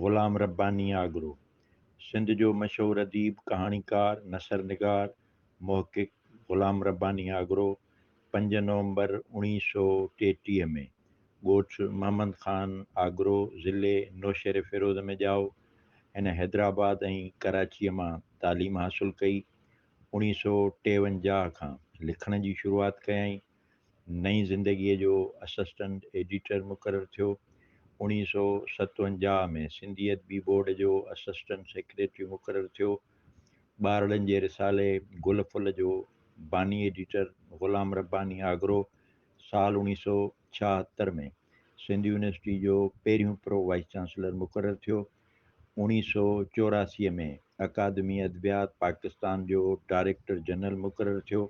غلام رباني آگرو، سنڌ جو مشهور اديب، ڪهاڻيڪار، نثر نگار، محقق غلام رباني آگرو پنج نومبر اوڻيهه سؤ ٽيٽيهه ۾ ڳوٺ محمد خان آگرو ضلعي نوشهريفيروز ۾ ڄائو. هن حيدرآباد ۽ ڪراچيء مان تعليم حاصل ڪئي. اڻيهه سؤ ٽيونجاهه کان لکڻ جي شروعات ڪيائين. نئين زندگيء جو اسسٽنٽ ايڊيٽر مقرر ٿيو. اڻيهه سؤ ستونجاهه ۾ سنڌي ادبي بورڊ جو اسسٽنٽ سيڪريٽري مقرر ٿيو. ٻارڙن جي رسالي گل ڦل جو باني ايڊيٽر غلام رباني آگرو سال اڻيهه سؤ ڇاهتر ۾ سنڌ يونيورسٽي جو پهريون پرو وائيس چانسلر مقرر ٿيو. اوڻيهه سؤ چوراسي ۾ اڪادمي ادبيات پاڪستان جو ڊائريڪٽر جنرل مقرر ٿيو.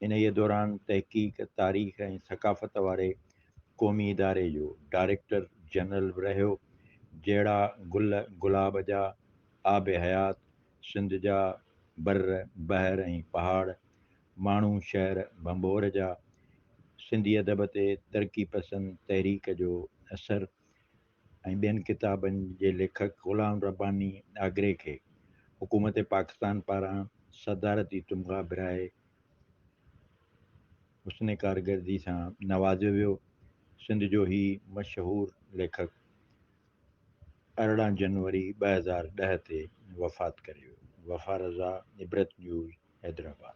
انهيء دوران تحقيق، تاريخ ۽ ثقافت واري قومي اداري جو ڊائريڪٽر جنرل به رهيو. جهڙا گل گلاب جا، آب حيات، سنڌ جا بر، بحر ۽ پهاڙ، ماڻهو شهر ڀنڀور جا، سنڌي ادب تي ترقي پسند تحريڪ جو اثر، ۽ ٻين ڪتابن جي ليکڪ غلام رباني آگري کي حڪومت پاڪستان پاران صدارتي تمغا برائي حسن ڪارگردي سان نوازيو ويو. سنڌ جو هي مشهور ليکڪ ارڙهن جنوري ٻه هزار ڏهه تي وفات ڪري ويو. وفا رضا، عبرت نيوز، حيدرآباد.